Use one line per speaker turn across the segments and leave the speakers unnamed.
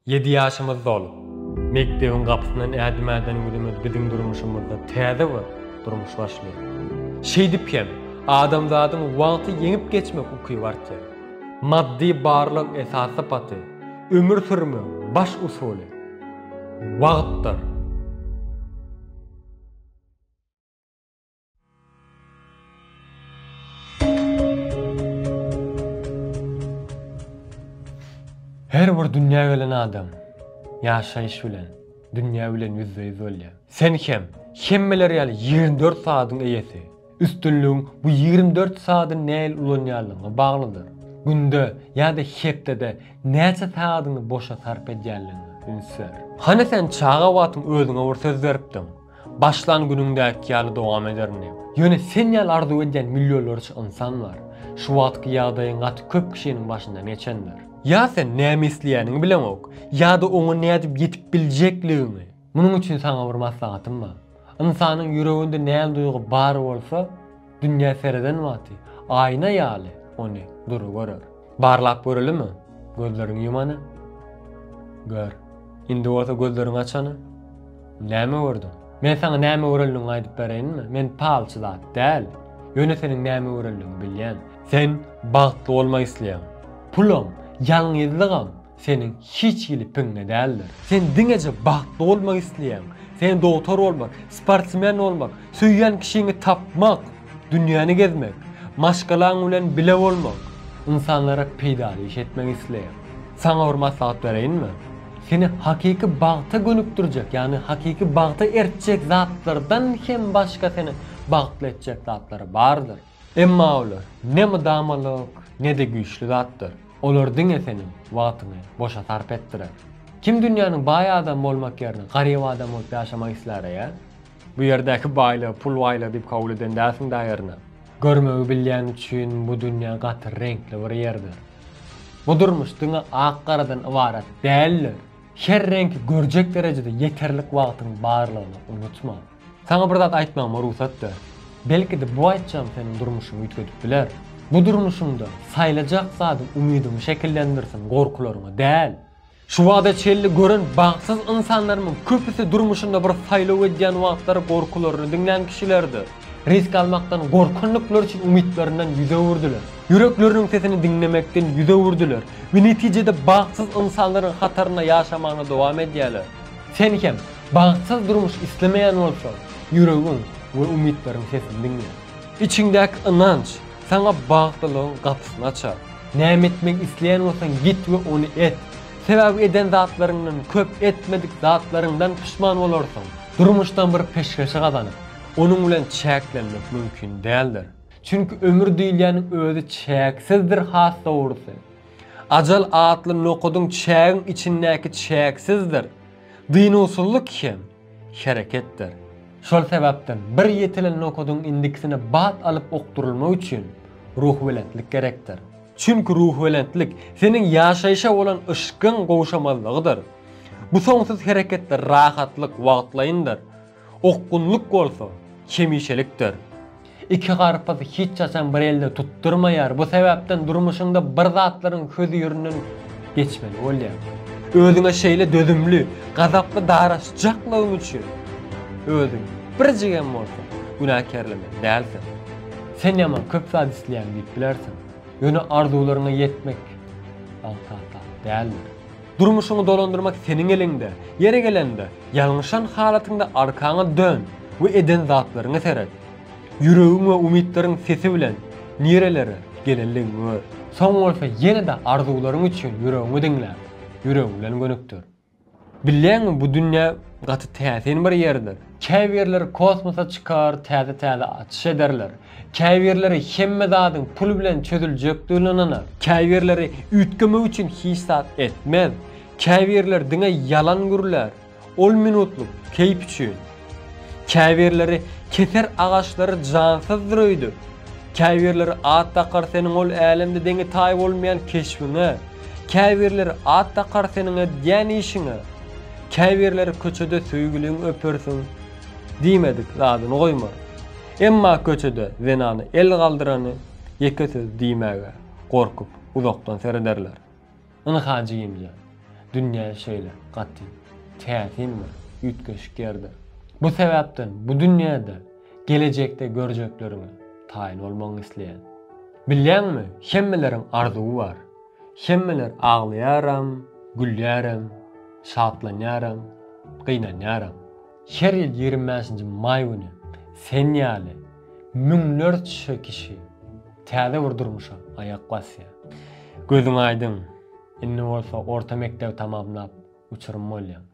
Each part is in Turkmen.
Ýedi ýaşymyz dolup, mekdebiň gapysyndan ädim ädenimizimiz biziň durmuşymyzda täze bir durmuş başlaýar. Şeýdip hem, adamzadyň wagty ýeňip geçmek ukyby artýar. Maddy barlyk esas sypaty, ömür sürmegiň baş usuly, wagtdyr. Her bir dünýä gelen adam ýaşaýyş bilen, dünýä bilen ýüzbe-ýüz bolýar. Sen hem hemmeler ýaly ýigrimi dört sagadyň eýesi. Üstünligiň bu ýigrimi dört sagadyny nähili ulanýanlygyňa baglydyr. Günde ýa-da hepdede näçe sagadyňy boşa sarp edýänligiňe üns ber. Hany sen çaga wagtyň özüňe bir söz beripdiň. Başlan günüňdäki ýaly dowam ederin diýip. Ýöne sen ýaly arzuw edýän millionlarça ynsan bar. Şu wagtky ýagdaýyň gaty köp kişiniň başyndan geçendir. Ýa sen näme isleýäniňi bileňok, ýa-da oňa nädip ýetip biljekligiňi. Munuň üçin saňa bir maslahatym bar. Ynsanyň ýüreginde näme duýgy bar bolsa, Dünýä sereden wagty, aýna ýaly ony dury görer. Barlap görelimi, gözleriňi ýumany? Gör. Indi bolsa gözleriňi açany? Näme gördüň? Men saňa näme görenligiňi aýdyp bereýinmi? Men palçy zat däl. Ýöne seniň näme görenligiňi bilýän. Sen bagtly bolmak isleýäň. Pulam, ýalňyzlygam, Seniň hiç hili piňňe däldir. Sen diňeje bagtly bolmak isleýäň. Sen dogtar bolmak, sportsmen bolmak, söýýän kişiňi tapmak, dünýäni gezmek, maşgalaň bilen bile bolmak, ynsanlara peýdaly iş etmek isleýäň. Saňa bir maslahat bereýinmi? Seni hakyky bagta gönükdirjek, ýagny hakyky bagta ertjek zatlardan hem başga seni bagtly etjek zatlar bardyr. Emma olar ne mydamalyk, ne-de güýçli zatdyr. Olar diňe seniň wagtyňy boşa sarp etdirer. Kim dünýäniň baý adamy bolmak ýerine garyp adam bolup ýaşamak islär-eýe? Bu ýerdäki baýlygy pul baýlygy diýip kabul eden dälsiň-dä aýryna? Görmegi bilýän üçin bu dünýä gaty reňkli bir ýerdir. Bu durmuş diňe ak-garadan ybarat däldir. Her reňki görjek derejede ýeterlik wagtyň barlygyny unutma. Saňa bir zat aýtmagyma rugsat ber. Belki-de bu aýtjagym seniň durmuşyňy üýtgedip biler. Bu durmuşyňda saýlajak zadyň umydyňy şekillendirsin, gorkularyňy däl. Şu wagta çenli gören bagtsyz ynsanlarymyň köpüsi durmuşynda bir saýlaw edýän wagtlary gorkularyny diňlän kişilerdir. Risk almakdan gorkandyklar üçin umytlaryndan ýüz öwürdiler. Ýürekleriniň sesini diňlemekden ýüz öwürdiler we netijede bagtsyz ynsanlaryň hatarynda ýaşamagyna dowam edýärler. Sen hem Bagtsyz durmuş islemeýän bolsaň, ýüregiň we umytlaryň sesini diňle. Içiňdäki ynanç saňa bagtlylygyň gapysyny açar. Näme etmek isleýän bolsaň git we ony et. Sebäbi eden zatlaryňdan köp etmedik zatlaryňdan puşman bolarsyň. Durmuşdan bir peşgeşi gazanyp, onuň bilen çäklenmek mümkin däldir. Çünki ömür diýilýäniň özi çäksizdir has dogrusy. Ajal atly nokadyň çägiň içindäki çäksizdir. Dynuwsyzlyk hem hereketdir. Şol sebäpden bir ýetilen nokadyň indikisine bat alyp okdurylmak üçin ruhubelentlik gerekdir. Çünki ruhubelentlik seniň ýaşaýşa bolan yşkyň gowşamazlygydyr. Bu soňsuz hereketde rahatlyk wagtlaýyndyr. Okgunlyk bolsa, hemişelikdir. Iki garpyz hiç haçan bir elde tutdurmaýar, bu sebäpden durmuşyňda bir zatlaryň hözirinden geçmeli bolýaň. Özüňe şeýle dözümli, gazaply daraşjaklygyň üçin özüňi birjigem bolsa günäkärlemeli dälsiň. Sen ýaman köp zat isleýän diýip bilersiň, ýöne arzuwlaryňa ýetmek aňsat zat däldir. Durmuşyňy dolandyrmak seniň eliňde. Ýeri gelende, ýalňyşan halatyňda arkaňa dön we eden zatlaryňa seret. Ýüregiň we umytlaryň sesi bilen nirelere gelenligiňi gör. Soň bolsa ýene-de arzuwlaryň üçin ýüregiňi diňle, ýüregiň bilen gönükdir. Bilýäňmi, bu dünýä gaty täsin bir ýerdir. Käbirleri kosmosa çykar, täze-täze açyş ederler. Käbirleri hemme zadyň pul bilen çözüljekdigine ynanar. Käbirleri üýtgemek üçin hiç zat etmez. Käbirleri diňe ýalan gürlär, ol minutlyk keýp üçin. Käbirleri keser agaçlary jansyzdyr öýdüp. Käbirleri at dakar seniň ol älemde deňi taýy bolmaýan keşbiňe, käbirleri at dakar seniň edýän işiňe, käbirleri köçede söýgüliňi öpersiň, diýmedik zadyny goýmar. Emma köçede zenany el galdyrany ýeke söz diýmäge gorkup uzakdan serederler. Ynha, jigimjan, dünýä şeýle gaty täsin bir üýtgeşik ýerdir. Bu sebäpden bu dünýäde gelejekde görjekleriňe taýyn bolmagyňy isleýän. Bilýäňmi, hemmeleriň arzuwy bar. Hemmeler aglaýaram, gülýärem, şatlanýaram, gynanýaram. Her ýyl ýigrimi bäşinji maý güni sen ýaly müňlerçe kişi täze bir durmuşa aýak basýar. Gözüň aýdyň, indi bolsa orta mekdebi tamamlap, uçurym bolýaň.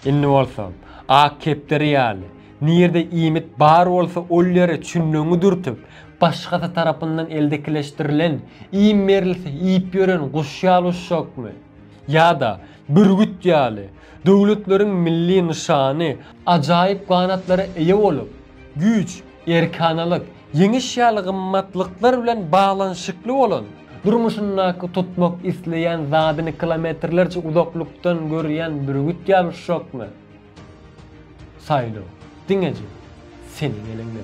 Indi bolsa, ak kepderi ýaly, nirde iýmit bar bolsa ol ýere çünleňi dürtüp, başgasy tarapyndan eldekileşdirilen, iým berilse iýip ýören guş ýaly uçjakmy? Ýa-da Bürgüt ýaly, döwletleriň milli nyşany ajaýyp ganatlara eýe bolup, güýç, erkanalyk, ýeňiş ýaly gymmatlyklar bilen baglanyşykly bolan, durmuşyndaky tutmak isleýän zadyny kilometrlerçe uzaklykdan görýän bürgüt ýaly uşakmy? Saýlaw diňeje seniň eliňde.